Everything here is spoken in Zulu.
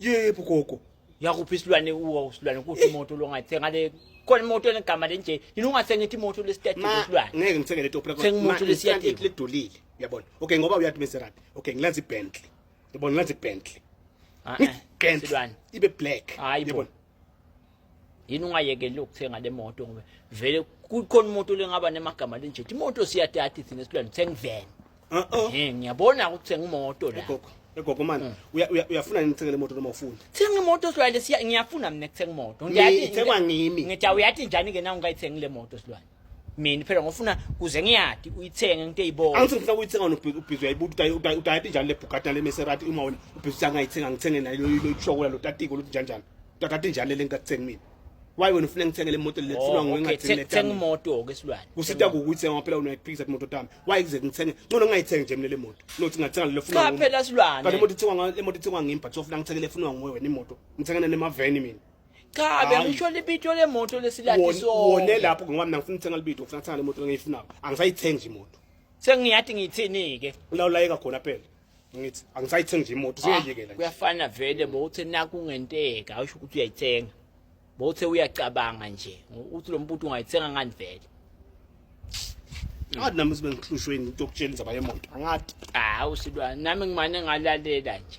yebo gogo yakuphi isilwane uwa usilwane kuthi imoto longathenga le khona imoto enegama lenje yini ungathenga ithi imoto lesitati ma isilwane ngeke ngithenge le topra Thenga imoto lesiyati. le dolile uyabona okay ngoba uyathi Maserati okay ngilanza iBentley uyabona ngilanza iBentley Ah, eh, iBentley isilwane ibe black Hayi bo. uyabona yini ungayekeli ukuthenga le moto ngoba vele kukhona umuntu lengaba nemagama linje imoto siyadadi thina silwane uthenga iveni uh-uh. eh ngiyabona ukuthenga imoto la gogo egogo manje mm. uyafuna nini ngithengele imoto noma ufuna thenga imoto silwane siya ngiyafuna mina kuthenga imoto ngiyathi ngithengwa ngimi ngithi uyathi njani ke na ungayithengi le moto silwane mina phela ngofuna kuze ngiyadi uyithenge nginte yibona angithi ngifuna uyithenga nobhizi ubhizi uyayibuta udayati njani le Bugatti le Maserati uma wena ubhizi angayithenga ngithenge nayo lo loyishokula lo tatiko lo njani njani tatati njani le ngikuthenga mina why wena ufuna ngithenge le moto lethulwa oh, nguwe ngathi le thenga imoto ke silwane kusita ukuthi ngoba phela unoyiphikisa imoto tami why kuze ngithenge ngcono ngayithengi nje mina le moto nothi ngathenga le funa cha phela silwane kanti imoto ithengwa le moto ithengwa ngimi but ufuna ngithenge le funwa nguwe wena imoto ngithengana nemaveni mina cha Hayi. bengisho libito lemoto lesilathi Won- sonke wone lapho ngoba mina ngifuna ukuthenga libito ngifuna ukuthenga le moto lengiyifunayo angisayithengi nje imoto sengiyathi ngithini ke ulawulayeka khona phela ngithi angisayithengi nje imoto singayekela nje Ah, kuyafana vele bowuthe naku ngenteka usho ukuthi uyayithenga bowuthe uyacabanga nje uthi lo mbuti ungayithenga ngani vele angathi nami sibe ngihlushwe yini into yokutshela indaba yemoto angathi hawu silwa nami ngimane ngalalela nje